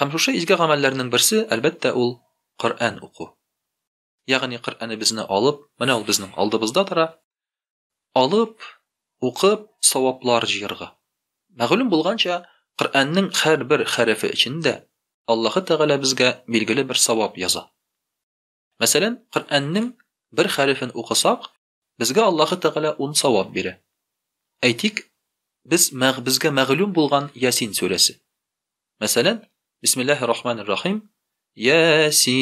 Һәм шушы изге гамәлләрнең берсе, әлбәттә, ул Коръән уку. Ягъни Коръәнебезне алып, менә ул безнең алдыбызда тора, алып, укып, саваплар җыярга. Мәгълүм булганча, Коръәннең һәрбер хәрефе өчен дә Аллаһы Тәгалә безгә билгеле бер савап яза. Мәсәлән, Коръәннең бер хәрефен укысак, Безгә Аллаһы Тәгалә ун савап бирә. Әйтик, без мәг безгә мәгълүм булган Ясин сүрәсе. Мәсәлән, Бисмиллаһи рахмани рахим, Ясин.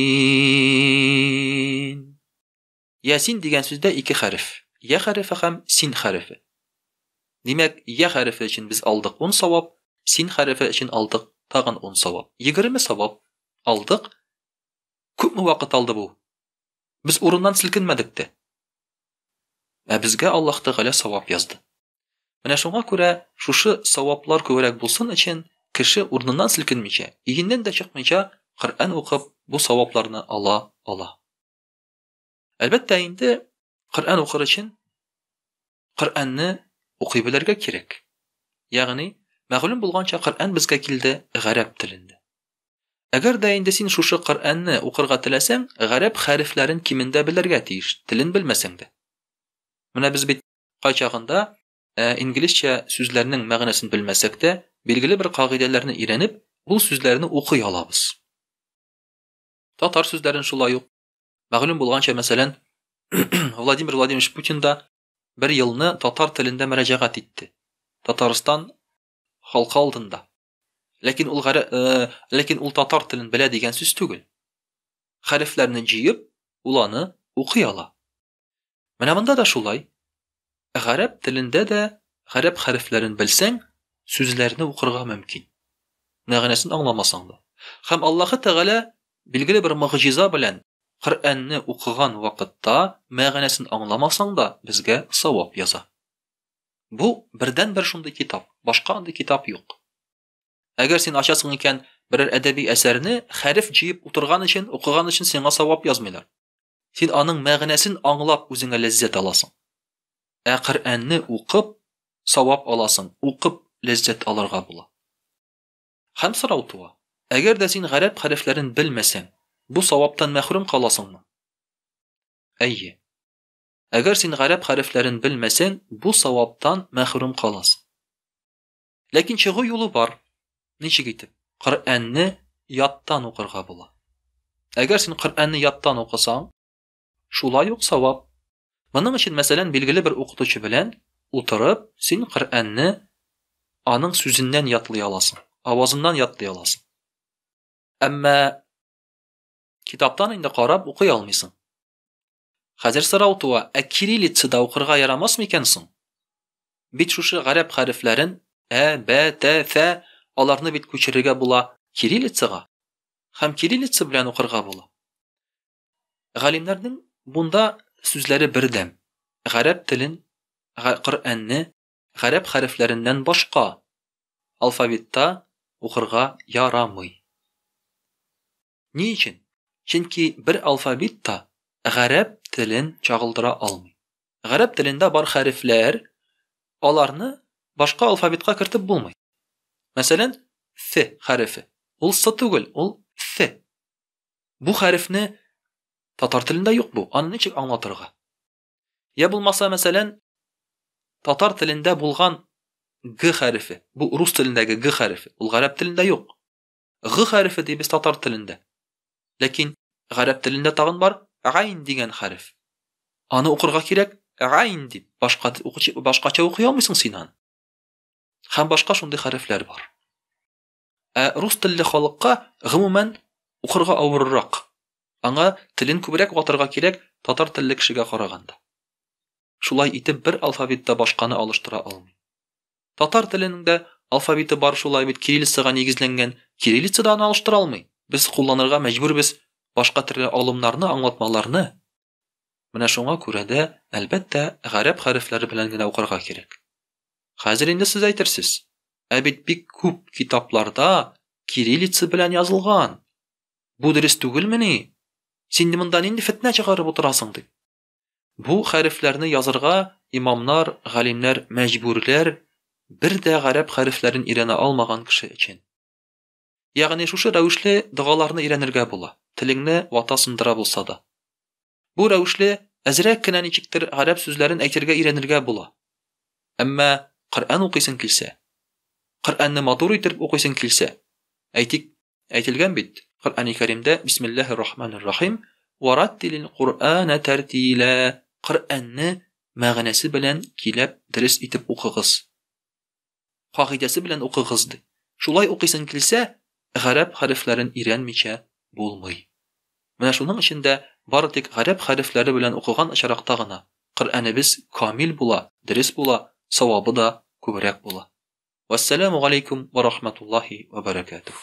Ясин дигән сүздә ике хәреф, я хәрефе һәм син хәрефе. Димәк, я хәрефе өчен без алдык ун савап, син хәрефе өчен алдык тагын ун савап. Егерме савап алдык. Күпме вакыт алды бу? Без урыннан селкенмәдек тә. Ә безгә Аллаһ Тәгалә савап язды. Менә шуңа күрә шушы саваплар күбрәк булсын өчен, кеше урыныннан селкенмичә, өеннән дә чыкмыйча Коръән укып, бу савапларны ала ала. Әлбәттә инде, Коръән укыр өчен Коръәнне укый белергә кирәк. Ягъни, мәгълүм булганча, Коръән безгә килде гарәп телендә. Әгәр дә инде син шушы Коръәнне укырга теләсәң, гарәп хәрефләрен кимендә белергә тиеш, телен белмәсәң дә. Менә без бит кайчагында Ә инглизчә сүзләрнең мәгънәсен белмәсәк тә, билгеле бер кагыйдәләрне өйрәнеп, ул сүзләрне укый алабыз. Татар сүзләрен шулай ук Мәгълүм булганча, мәсәлән, Владимир Владимирович Путин да бер елны татар телендә мөрәҗәгать итте. Татарстан халкы алдында. Ләкин ул гәрә, э, ләкин ул татар телен белә дигән сүз түгел. Хәрефләрне җыеп, ул аны укый ала. Менә монда да шулай. Гарәп телендә дә гарәп хәрефләрен белсәң, сүзләрне укырга мөмкин. Мәгънәсен аңламасаң да. Хәм Аллаһы Тәгалә билгеле бер могҗиза белән Коръәнне укыган вакытта мәгънәсен аңламасаң да безгә савап яза. Бу бердән-бер шундый китап, башка андый китап юк. Әгәр син ачасың икән берәр әдәби әсәрне, хәреф җыеп утырган өчен, укыган өчен сиңа савап язмыйлар. Син аның мәгънәсен аңлап үзеңә ләззәт аласың. Ә Коръәнне укып савап аласың, укып ләззәт алырга була. Хәм сорау туа. Әгәр дә син гарәп хәрефләрен белмәсәң, бу саваптан мәхрүм каласыңмы? Әйе. Әгәр син гарәп хәрефләрен белмәсәң, бу саваптан мәхрүм каласың. Ләкин чыгу юлы бар. Ничек итеп? Коръәнне яттан укырга була. Әгәр син Коръәнне яттан укысаң, шулай ук савап. Моның өчен, мәсәлән, билгеле бер укытучы белән утырып, син Коръәнне аның сүзеннән ятлый аласың, авазыннан ятлый аласың. Әмма китаптан инде карап укый алмыйсың. Хәзер сорау туа, ә кириллицада укырга ярамас микән соң? Бит шушы гарәп хәрефләрен, ә, бә, тә, фә, аларны бит күчерергә була кириллицага һәм кириллица белән укырга була. Галимнәрнең бунда сүзләре бердәм. Гарәп телен, Коръәнне гарәп хәрефләреннән башка алфавитта укырга ярамый. Ни өчен? Чөнки бер алфавит та гарәп телен чагылдыра алмый. Гарәп телендә бар хәрефләр, аларны башка алфавитка кертеп булмый. Мәсәлән, ф хәрефе. Ул с түгел, ул ф. Бу хәрефне татар телендә юк бу. Аны ничек аңлатырга? Я булмаса, мәсәлән, татар телендә булган г хәрефе. Бу рус телендәге г хәрефе. Ул гарәп телендә юк. Г хәрефе дибез татар телендә. Ләкин гарәп телендә тагын бар гайн дигән хәреф. Аны укырга кирәк гайн дип. Башка укучы башкача укый алмыйсың син аны. Һәм башка шундый хәрефләр бар. Ә рус телле халыкка гомумән укырга авыррак. Аңа телен күбрәк ватырга кирәк татар телле кешегә караганда. Шулай итеп бер алфавитта башканы алыштыра алмый. Татар теленең дә алфавиты бар шулай бит кириллицага нигезләнгән, кириллица да аны алыштыра алмый. Без кулланырга мәҗбүрбез башка төрле алымнарны, аңлатмаларны. Менә шуңа күрә дә, әлбәттә, гарәп хәрефләре белән генә укырга кирәк. Хәзер инде сез әйтерсез. Ә бит бик күп китапларда кириллица белән язылган. Бу дөрес түгелмени? Син монда нинди фетнә чыгарып утырасың, дип. Бу хәрефләрне язырга имамнар, галимнәр мәҗбүрләр, бер дә гарәп хәрефләрен өйрәнә алмаган кеше өчен. Ягъни шушы рәвешле догаларны өйрәнергә була, телеңне вата-сындыра булса да. Бу рәвешле әзрәк кенә ничектер гарәп сүзләрен әйтергә өйрәнергә була. Әмма Коръән укыйсың килсә, Коръәнне матур итеп укыйсың килсә, әйтик, Әйтелгән бит, Коръәни Кәримдә Бисмиллаһи рахманир рахим, Вараттилил Коръәнә тәртилә, Коръәнне мәгънәсе белән киләп дөрес итеп укыгыз. Кагыйдәсе белән укыгыз, ди. Шулай укыйсың килсә, гарәп хәрефләрен өйрәнмичә булмый. Менә шуның өчен дә бары тик гарәп хәрефләре белән укыган очракта гына Коръәнебез камил була, дөрес була, савабы да күбрәк була. Вәссәламү галәйкүм вә рахматуллаһи вә бәрәкәтүһ.